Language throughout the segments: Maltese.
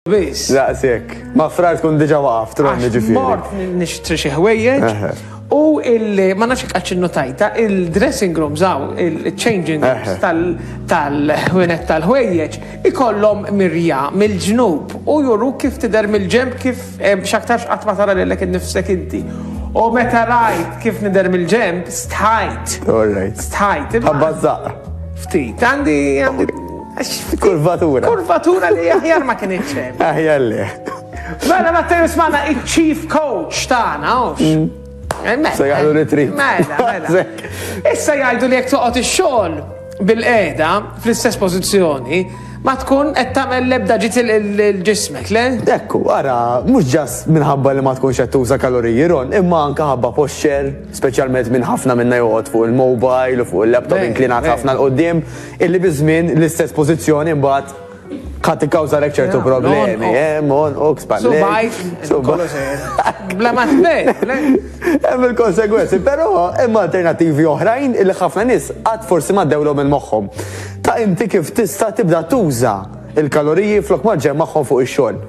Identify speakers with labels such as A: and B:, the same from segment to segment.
A: Biss. Daqsek.
B: Ma frar tkun diġa waqaf, tron ġifiri. Mort nixtri
A: xi ħwejjeġ. U il ma nafx kaċ notajta il-dressing rooms għaw, il-changing rooms tal-ħwienet tal-ħwejjeġ Ikollhom mirja mill-ġnub u juruk kif tidher mill-ġenb kif x'aktarx qatt ma tara lilek innifsek inti. U meta rajt kif nidher mill-ġenb, stħajt. Orrejt. Stħajt. Ħabba ż-żaqq.
B: Ftit. Għandi.
A: Kurvatura.
B: Kurvatura li aħjar ma
A: kien hemm. Aħjar le.
B: Mela
A: Matteo Smana, iċ-chief coach tagħna,
B: Se jgħidu li trid. Mela, mela.
A: Issa jgħidu li jekk toqgħod ix-xogħol bil-qeda fl-istess pożizzjoni, ma tkun qed tagħmel l-ebda ġiet il-ġismek, le? Ekku, ara,
B: mhux ġas minħabba li ma tkunx qed tuża kaloriji ron, imma anke ħabba posċer, speċjalment minn ħafna minna joqgħod fuq il-mobile u fuq il-laptop inklinat ħafna l-qoddim, illi biż-żmien l-istess pożizzjoni mbagħad Ka tikkawża lek ċertu problemi, eh, mon u kspan.
A: Subajk, bla ma Hemm
B: il-konsegwenzi, però hemm alternattivi oħrajn li ħafna nies qatt forsi ma dewlhom minn moħħhom. Ta' inti kif tista' tibda tuża il-kaloriji flok ma ġemmaħħom fuq ix-xogħol.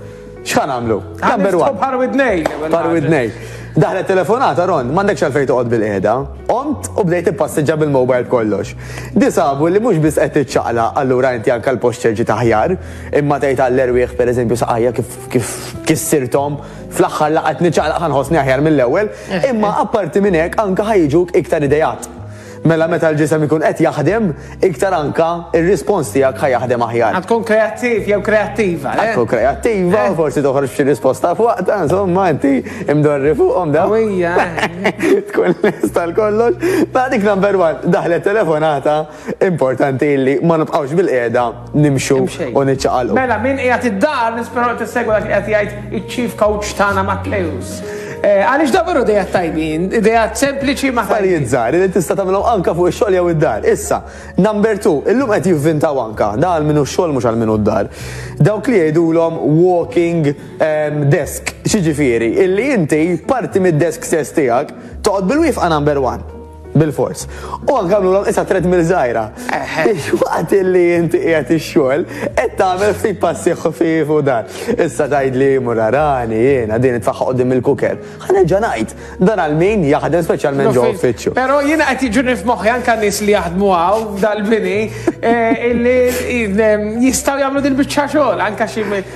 B: X'ħan għamlu? Number one. Bħal widnej. Bħal widnej. Daħlet telefonata rond, m'għandekx għalfejn toqgħod bil-qiegħda. Omt u bdejt ippassiġġa bil-mobile kollox. Disabu li mhux biss qed tiċċaqla allura inti anke l-posċer ġi taħjar, imma tgħid għall-erwieħ pereżempju saqajja kif kif kissirthom fl-aħħar laqgħet niċċaqla ħanħossni aħjar mill-ewwel, eh, imma eh. apparti minn hekk anke ħajġuk iktar idejat. Mela meta l-ġisem ikun qed jaħdem, iktar anka ir-rispons tiegħek ħa jaħdem aħjar. Għad tkun kreattiv jew
A: kreattiva, le? Tkun kreattiva,
B: Eh. forsi toħroġ xi risposta f'waqta, insomma, inti imdorri fuqhom daw. Għawija, Tkun lesta l-kollox. Ta' dik number one, daħlet telefonata importanti li ma nibqgħux bil-qiegħda nimxu u niċċaqalqu. Mela, min qiegħed id-dar,
A: nisperaw li tissegwa dak li qed jgħid iċ-chief coach tagħna Matteus. Eh, għaliex daveru dejja tajbin, dejja sempliċi ma Affarijiet żgħar li tista'
B: tagħmilhom anka fuq ix-xogħol jew id-dar. Issa, number two, illum qed jivvintaw anka, da għal minu x-xogħol mhux għal minu d-dar. Dawk li jgħidulhom walking ehm, desk, xiġifieri, illi inti parti mid-desk stess tiegħek toqgħod bil-wifqa number one. Bilfors. U anke għamlulhom issa treadmill żgħira. Biex waqt li inti qiegħed ix-xogħol qed tagħmel ftit passi ħfief u dan. Issa tgħidli murarani jiena din itfaħħa qudiem il-kuker. Ħanerġa' ngħid, dan għal min jaħdem speċjalment ġo uffiċċju. Però jiena qed jiġuni
A: f'moħħi anke nies li jaħdmu hawn dal-bini eh, illi eh, jistgħu jagħmlu din biċċa xogħol anke xi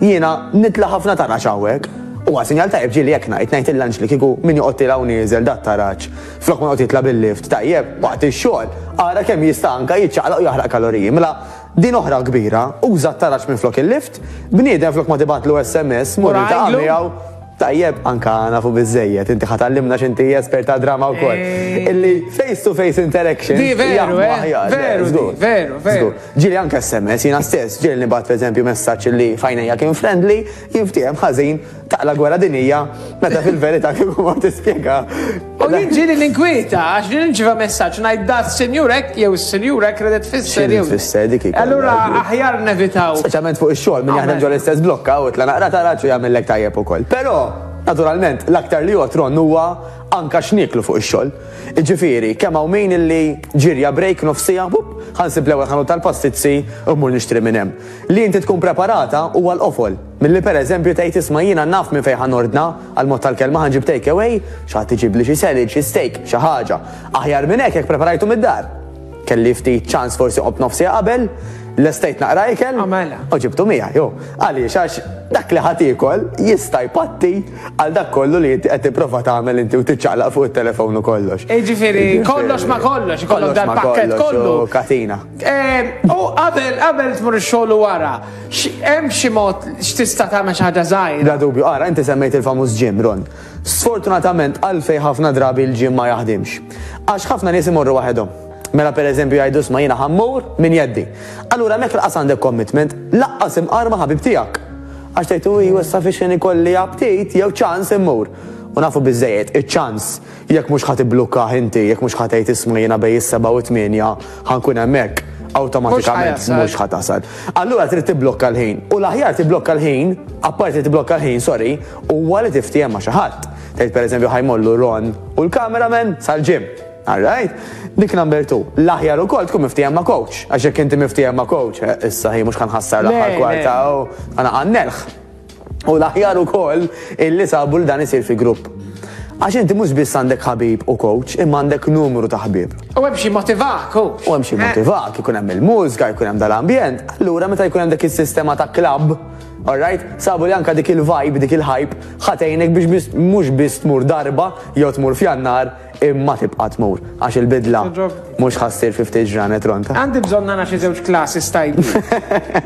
B: Jiena nitla' ħafna taraġ hawnhekk. Huwa sinjal tajjeb ġieli hekk ngħid, ngħid lill-anġli kieku min joqgħodtilha u nieżel dat-taraġ flok ma joqgħod jitla' bil-lift, tajjeb, waqt ix-xogħol, ara kemm jista' anka jiċċaqlaq u jaħraq kaloriji. Mela din oħra kbira, uża t-taraġ minflok il-lift, bniedem flok ma tibgħatlu SMS, mur iltaqa' miegħu. Tajjeb anka nafu biżżejjed, inti ħa tgħallimna x'inti espert ta' drama wkoll. Illi face to face interaction. Di veru, eh?
A: Veru, veru, veru. Ġieli anke SMS
B: jiena stess, ġieli nibgħat pereżempju messaġġ li fajnejja kien friendly, jinftiehem ħażin taqla gwerra dinija meta fil-verità kieku ma tispjega U jien ġieli
A: ninkwieta għax li nirċieva messaġġ u ngħid da s-sinjur hekk jew is-sinjura hekk redet tfisser jew. X'irid tfisser dik hi. Allura
B: aħjar
A: nevitaw. Speċjalment fuq ix-xogħol min
B: jaħdem ġo l-istess blokk hawn itla' naqra tara xi jagħmillek tajjeb ukoll. Però, naturalment, l-aktar li jgħotron huwa anke x'nieklu fuq ix-xogħol. Jiġifieri, kemm hawn min illi ġirja break nofs siegħa, bup, ħa nsib l-ewwel ħanut tal-pastizzi u mmur nixtri minn hemm. Li inti tkun preparata huwa l-qofol milli pereżempju tgħid isma' jiena naf minn fejn ħa nordna, Għall-mod tal-kelma ħa nġib take away, xi ħadd iġibli xi sandwich, xi steak, xi ħaġa. Aħjar minn hekk jekk preparajtu mid-dar. Kelli ftit ċans forsi qgħodt nofs siegħa qabel, lestejt naqra ikel u ġibtu miegħi. Għaliex għax dak li ħa tiekol jista' jpatti għal dak kollu li inti qed tipprova tagħmel inti u tiċċaqlaq fuq it-telefon u kollox. Jiġifieri kollox
A: ma kollox, kollox dal-pakkett kollu. Katina.
B: U
A: qabel qabel tmur ix-xogħol wara. Hemm xi mod x'tista' tagħmel xi ħaġa żgħira. Da dubju, ara inti semmejt
B: il-famuż ġim, Ron. Sfortunatament għalfej ħafna drabi l-ġim ma jaħdimx. Għax ħafna nies imorru waħedhom. Mela per eżempju jgħidu sma jiena ħammur minn jeddi. Allura hemmhekk laqas għandek commitment, laqqas imqar ma' ħabib tiegħek. Għax tgħid u issa fiex ikolli aptit jew ċans immur. U nafu biżejjed, iċ-ċans. Jekk mhux ħa tibblukkah inti, jekk mhux ħa tgħid isma' jiena bejn is-sebgħa u t-tmienja ħa nkun hemmhekk, awtomatikament mhux ħa tasal. Allura trid tibblokka l-ħin. U l-aħjar tibblokka l-ħin, apparti li tibblokka l-ħin, sorry, huwa li tiftiehem ma' xi ħadd. Tgħid pereżempju ħa jmollu Ron u l-cameraman sal-gym. All right? Dik number two. L-aħjar ukoll tkun miftiehem ma' coach. Għax jekk inti miftiehem ma' coach, eh, issa ħi mhux ħanħassar l-aħħar kwarta u ħana għannelħ. U l-aħjar ukoll illi sabu li dan isir fi grupp. Għax inti mhux biss għandek ħabib u coach, imma għandek numru ta' ħbib. U hemm xi motivak,
A: coach. U hemm xi eh. motivak,
B: ikun hemm il-mużika, ikun hemm dal-ambjent. Allura meta jkun hemm dik is-sistema ta' klabb, alright, sabu li anka dik il-vibe, dik il-hype, ħatejnek biex mhux biss tmur darba jew tmur f'jannar, Imma tibqa' tmur, għax il-bidla mhux ħa ssir fi ftit ġranet, Ronta. Għandi bżonn nara xi żewġ
A: classes tajbin.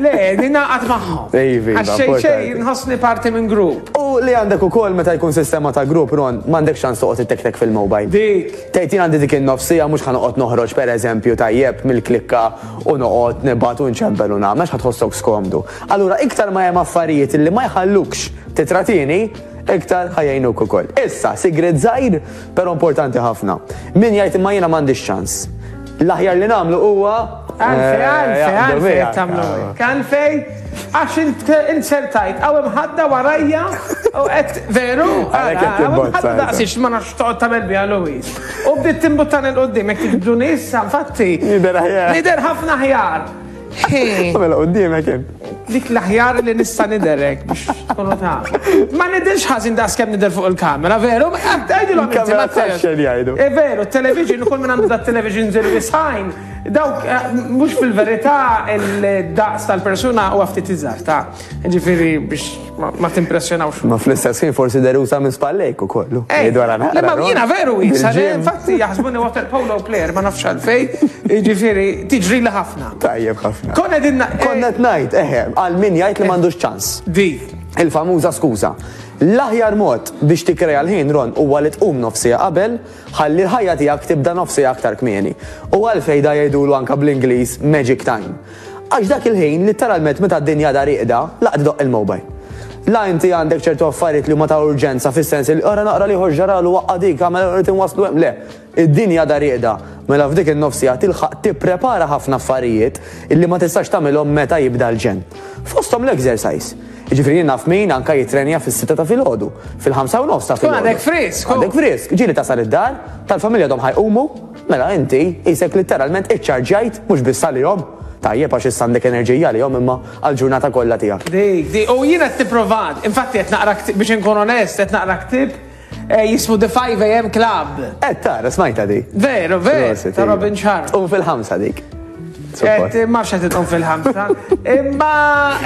A: Le, ningħaqad magħhom. Iva, Għax xejn importanti. xejn inħossni parti minn grupp. U li għandek ukoll
B: meta jkun sistema ta' grupp, Ron, m'għandekx ċans toqgħod ittektek fil-mobile. Dik. Tgħid jien għandi
A: dik in-nofs
B: siegħa mhux ħa noqgħod noħroġ pereżempju tajjeb mill-klikka u noqgħod nibgħat u nċempel u nagħmel għax ħa tħossok skomdu. Allura iktar ma hemm affarijiet li ma jħallukx titratini, Iktar ħa jgħinuk ukoll. Issa, sigriet żgħir, però importanti ħafna. Min jgħid imma jiena m'għandix ċans. L-aħjar li nagħmlu huwa Anzi, eh,
A: anzi, anzi, tamlu. Kan fej, għax insertajt, għaw imħadda warajja, u għet veru, għadda daqsix ma nafx toqt tamel bija Louis. U bdiet timbuttan il-qoddim, jek t-bdunis, sanfatti. Nider ħafna ħjar. Ħin. Mela
B: quddiemek int. Dik l-aħjar
A: li nista' niderek biex tkunu ta'. Ma nidirx ħażin daqs kemm nidher fuq il-kamera, veru? Għidilhom inti Kamera ma t- taxxer jgħidu. E veru,
B: television,
A: ukoll minn għandu da television zil wisħajn. Dawk, eh, mhux fil-verità il-daqs tal-persuna u ftit iżgħar ta'. Ġifiri biex ma timpressjonawx. Ma fl-istess ħin forsi
B: derusa minn spallejk u kollu. Eh, dwar għana. Ma jina
A: veru jisa, infatti jaħsbuni water polo player ma nafx għalfej, ġifiri tiġri li ħafna. Tajjeb ħafna. Konna
B: dinna. Eh, Konna t-najt,
A: eħe, eh,
B: għal min jajt li mandux ċans. Di.
A: Il-famuza skuza.
B: L-aħjar mod biex tikreja l-ħin ron u għalit um nofsija qabel, ħalli l-ħajja tijak tibda nofsija aktar kmieni. U għalfej da jgħidulu anka bl-Inglis Magic Time. Għax dak il-ħin, litteralment meta d-dinja għadha rieqda, laqgħet idoqq il-mobile. La inti għandek ċertu affarijiet li huma ta' urġenza fis-sens li ara naqra l-ieħor ġaralu waqqa' dik, ha mela irrid inwasslu hemm, le. Id-dinja għadha rieqda, mela f'dik in-nofs siegħa tilħaq tipprepara ħafna affarijiet illi ma tistax tagħmilhom meta jibda l-ġenn. Fosthom l-exercise. Jiġifieri jien naf min anke jittrenja fis-sitta ta' filgħodu, fil-ħamsa u nofs ta' filgħodu. Għadek frisk. Għadek
A: frisk. Ġieli tasal
B: id-dar, tal-familja dom ħajqumu, Mela inti qisek litteralment iċċarġjajt mhux biss għalihom, tajjeb għax issa għandek enerġija għalihom imma għall-ġurnata kollha tiegħek. Dik, dik, u jien qed
A: nipprova, infatti qed naqra ktieb biex inkun onest, qed naqra ktieb Eh, jismu The 5 AM Club. Eh, tara, smajta
B: di. Veru, veru, ta'
A: Robin Sharp. U fil-ħamsa dik.
B: Et, eh, ma
A: xħet itom fil-ħamsa. Imma,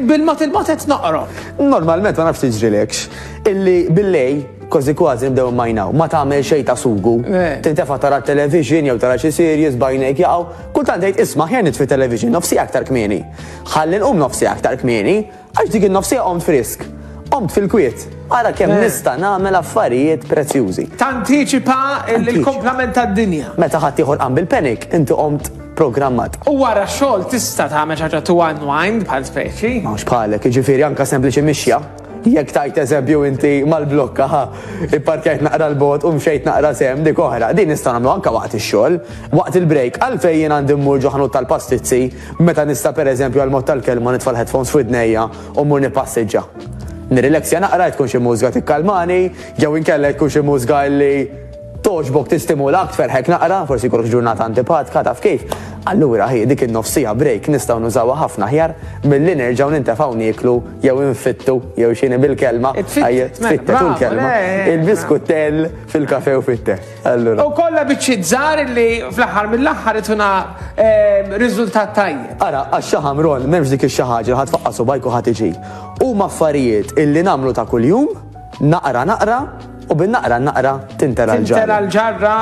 A: bil-mot il-mot et noqro. Normalment, ma nafx
B: tiġri lekx. Illi billej, Kważi kważi nibdew immajnaw. Ma tagħmel xejn ta' sugu. Tintefa' tara t-television jew tara xi series b'għajnejk jaqgħu. Kultant tgħid isma' aħjar nitfi t-television nofs siegħa aktar kmieni. Ħalli nqum nofs siegħa aktar kmieni għax dik in-nofs siegħa qomt frisk. Qomt fil-kwiet. Ara kemm nista' nagħmel affarijiet prezzjużi. Tantiċipa
A: l-kumplament tad-dinja. Meta ħadd ieħor qam
B: bil-panic, inti qomt programmat. U wara x-xogħol
A: tista' tagħmel xi ħaġa to unwind bħal speċi. Mhux bħalek, jiġifieri
B: anke sempliċi mixja. Jekk tajt eżempju inti mal-blokka ha, ipparkjajt naqra l-bot u mxejt naqra sem dik oħra, din nista' nagħmlu anke waqt ix-xogħol, waqt il-break, għalfejn jien għandi mmur ġo ħanut tal-pastizzi meta nista' pereżempju għal mod tal-kelma nitfa' l-headphones f'widnejja u mmur nippassiġġa. Nirrileksja naqra, tkun xi mużga tikkalmani, jew inkella tkun xi mużga li Togħġbok, tistimulak, tferrħek naqra, forsi jkollok ġurnata antipatka, taf kif? Allura hi, dik in-nofs siegħa break nistgħu nużawha ħafna aħjar milli nerġgħu nintefgħu nieklu jew infittu, jew x'inhi bil-kelma, It-fittet, mela, fittet hu bravo, l-kelma, le, eh, il-biskuttell fil-kafè u fit-te. Allura. U kollha
A: biċċiet żgħar li fl-aħħar mill-aħħar ituna ehm, riżultat tajjeb. Ara, għax xi ħamron
B: m'hemmx dik ix-xi ħaġa li ħadd faqqa' subajk u ħadd iġi. Huma affarijiet illi nagħmlu ta' kuljum, naqra naqra, U bin-naqra n-naqra timtela l-ġarra. Timtela l-ġarra.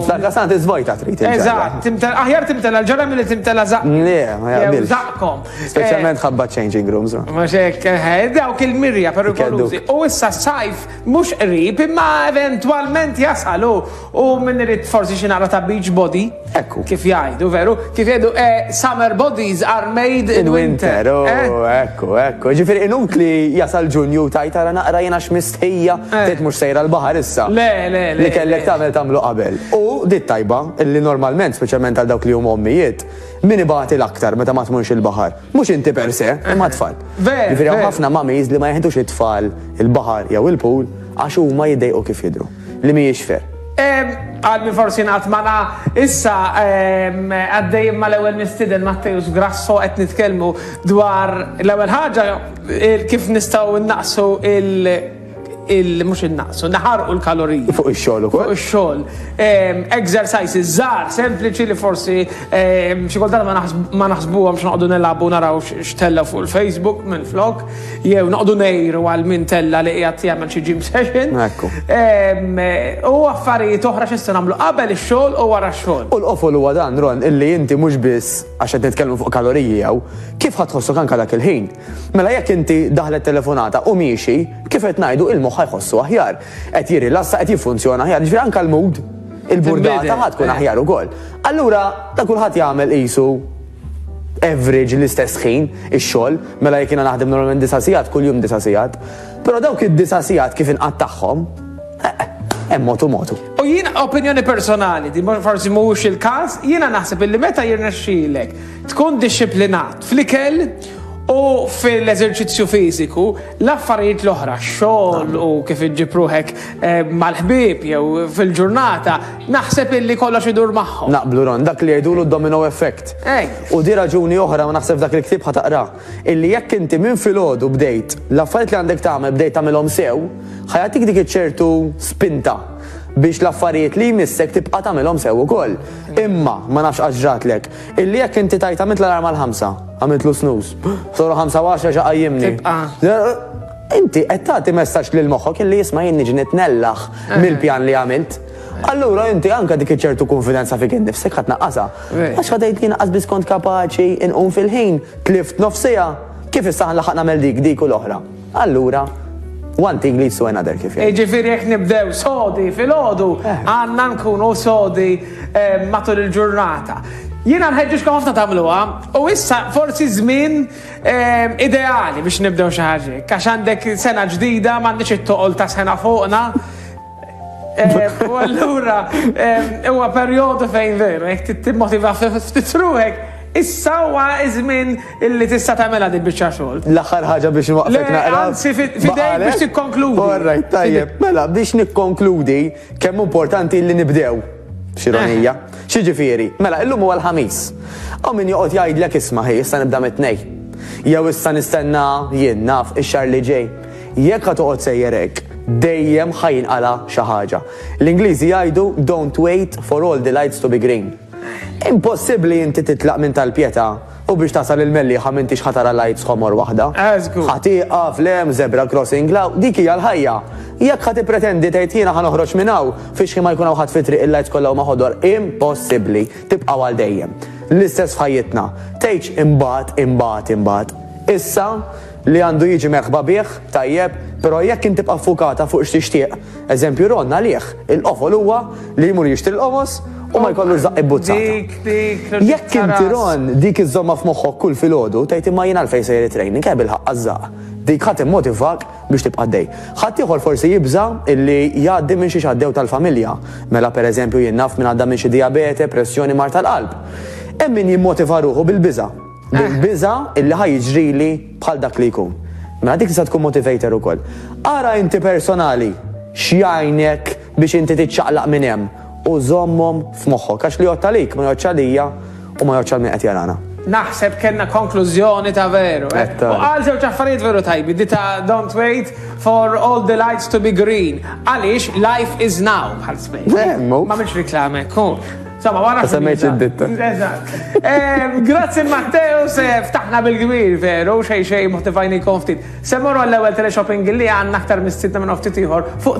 A: F'dak l-asant
B: iżvojta trid. Eżatt, aħjar
A: timtela l-ġarra milli timtela zaqq. Le, ma jaqbilx.
B: Zaqqkom. Speċjalment
A: eh, ħabba
B: changing rooms. Ma xek, eh, eh,
A: dawk il-mirja per perikolużi. U issa sajf mhux qrib imma eventwalment jasalu u minn irid forsi xi nara ta' beach body. Ekku. Kif jgħidu,
B: veru?
A: Kif jgħidu summer bodies are made in winter. Oh, ekku,
B: ekku. Ġifieri inutli jasal ġunju tajtara naqra jiena x'mis Hija eh. tgħid mhux sejra l-baħar issa. Le, le, le. Li kellek
A: tagħmel
B: tagħmlu qabel. U dit tajba, illi normalment, speċjalment għal dawk li huma ommijiet, min ibati l-aktar meta ma tmunx il-baħar. Mhux inti per se, imma eh. tfal. Veri. Jiġifieri ħafna mamiz li ma jeħdux it-tfal il-baħar jew il-pool għax huma jiddejqu kif jidru. Li mhijiex fer. Għal mi
A: forsi natmana, issa għaddej ma l-ewel mistiden Mattejus Grasso għet nitkelmu dwar l-ewel ħagġa Kif nistgħu nnaqqsu il, mhux innaqqsu, naħarqu l-kaloriji. Fuq ix-xogħol ukoll? Fuq
B: ix-xogħol.
A: Exercises żgħar, sempliċi li forsi xi kultant ma naħsbuhomx noqogħdu nilagħbu naraw x'tella' fuq il-Facebook minflok, jew noqogħdu ngħiru għal min tella' li qiegħed jagħmel xi gym session. Ekku. U affarijiet oħra x'nistgħu nagħmlu qabel ix-xogħol u wara x-xogħol. U l-qofol huwa dan,
B: Ron, illi inti mhux biss għax qed nitkellmu fuq kaloriji hawn, kif ħa tħossok anke dak il-ħin? Mela jekk inti daħlet telefonata u miexi, kif qed ngħidu il-moħħ ħa jħossu aħjar. Qed jirilassa, qed jiffunzjona aħjar, ġifieri anke l-mood il-burdata ħad tkun eh. aħjar ukoll. Allura ta' kulħadd jagħmel qisu average l-istess ħin ix-xogħol, mela jekk jiena naħdem normalment disa' sigħat, kuljum disa' sigħat. Però dawk id-disa' sigħat kif inqatt tagħhom, Emmotu motu. U jien
A: opinjoni personali, di forsi mhuwiex il-każ, jiena naħseb illi meta jirnexxilek tkun dixxiplinat fl-ikel u fil-eżerċizzju fiżiku, l-affarijiet l-oħra, xogħol u kif iġġib ruħek eh, mal-ħbieb jew fil-ġurnata, naħseb illi kollox idur magħhom. Naqblu ron, dak li jgħidulu
B: domino effect. U di raġuni oħra ma naħseb dak il-ktib ħataqra. illi jekk inti minn filgħodu bdejt, l-affarijiet li għandek tagħmel bdejt tagħmilhom sew, ħa jagħtik dik iċ-ċertu spinta biex l-affarijiet li jmissek tibqa' tagħmilhom sew ukoll. Imma, ma nafx għax ġratlek, illi jekk inti tajt għamilt l-alarm għall-ħamsa, għamiltlu snooze, soru ħamsa u għaxra xa qajjimni. Inti qed tagħti messaġġ lil moħħok illi jisma' jien niġi nitnellaħ mill-pjan li għamilt. Allura inti anke dik iċ-ċertu kunfidenza fik innifsek ħadd naqqasha. Għax ħadejt li naqas biss kont kapaċi inqum fil-ħin, tlift nofsija, kif issa ħanlaħaq nagħmel dik dik u l-oħra. Allura, one thing leads to another kif jgħid. Ġifieri jekk nibdew
A: sodi fil-ħodu, eh. għandna nkunu sodi eh, matul il-ġurnata. Jiena nħeġġux ħafna tagħmluha u issa forsi żmien eh, ideali biex nibdew xi ħaġa. Għax għandek sena ġdida, m'għandix it-toqol ta' sena fuqna. Eh, u allura, eh, huwa perjodu fejn veru, jek timmotiva ftit ruħek, issa huwa iż-żmien illi tista' tagħmilha din biċċa xogħol. L-aħħar ħaġa biex
B: nwaqfek naqra. Anzi, fidejk
A: biex tikkonkludi. Orrajt, tajjeb,
B: mela biex nikkonkludi kemm importanti li nibdew. Xironija. Eh. Xiġifieri, mela illum huwa l-ħamis. Aw min joqgħod jgħidlek isma' ħi, issa nibda mit-tnej. Jew issa nistenna jien naf ix-xar li ġej. Jekk ħa toqgħod sejjer hekk, dejjem ħa jinqala' xi ħaġa. L-Ingliżi jgħidu don't wait for all the lights to be green. Impossibbli inti titlaq minn tal-Pietà u biex tasal il-Mellieħa m'intix ħa tara lights ħomor waħda. Ħa tieqaf, le hemm zebra crossing, la dik hija l-ħajja. Jekk ħa tippretendi tgħid jiena ħa noħroġ minn hawn fix-xħin ma jkun hawn ħadd fit-triq il-lights kollha huma ħodor, impossibbli. Tibqgħu għal dejjem. L-istess f'ħajjitna. Tgħidx imbagħad, imbagħad, imbagħad. Issa. li għandu jiġi merħba bih, tajjeb, però jekk int tibqa' ffukata fuq x'tixtieq, eżempju Ron għalih il-qofol huwa li jmur jixtri l-qomos u ma jkollux żaqq ibbuzzata. Jekk inti Ron dik iżżommha f'moħħok kull filgħodu, tgħid imma jien għalfejn sejjer it-training, eh bilħaqq għaż-żaqq. Dik ħa timmotivak biex tibqa' għaddej. Ħadd ieħor forsi jibża' illi jgħaddi minn xi x'għaddew tal-familja. Mela pereżempju jien naf min għadda minn xi dijabete, pressjoni, mard tal-qalb. Hemm min jimmotiva ruħu bil-biża'. Bil-biża' illi ħa jiġrili bħal dak li jkun. Mela dik tista' tkun motivator ukoll. Ara inti personali x'jgħinek biex inti tiċċaqlaq minn hemm u żommhom f'moħħok għax li jgħodd għalik ma jgħoddx għalija u ma jgħoddx għal min qed jarana. Naħseb kellna konklużjoni ta' veru. U qal żewġ affarijiet veru tajbi, di ta' don't wait for all the lights to be green. Għaliex life is now bħal sbejjed. Ma mhux riklama jkun. Sama wara. Semmejt id-ditta. Eżatt. Ehm, grazzi Matteo se ftaħna bil-kbir veru xej xej motivajni konftit. Se morru għall-ewwel teleshopping li għandna aktar mis-sitta minn oftit ieħor fuq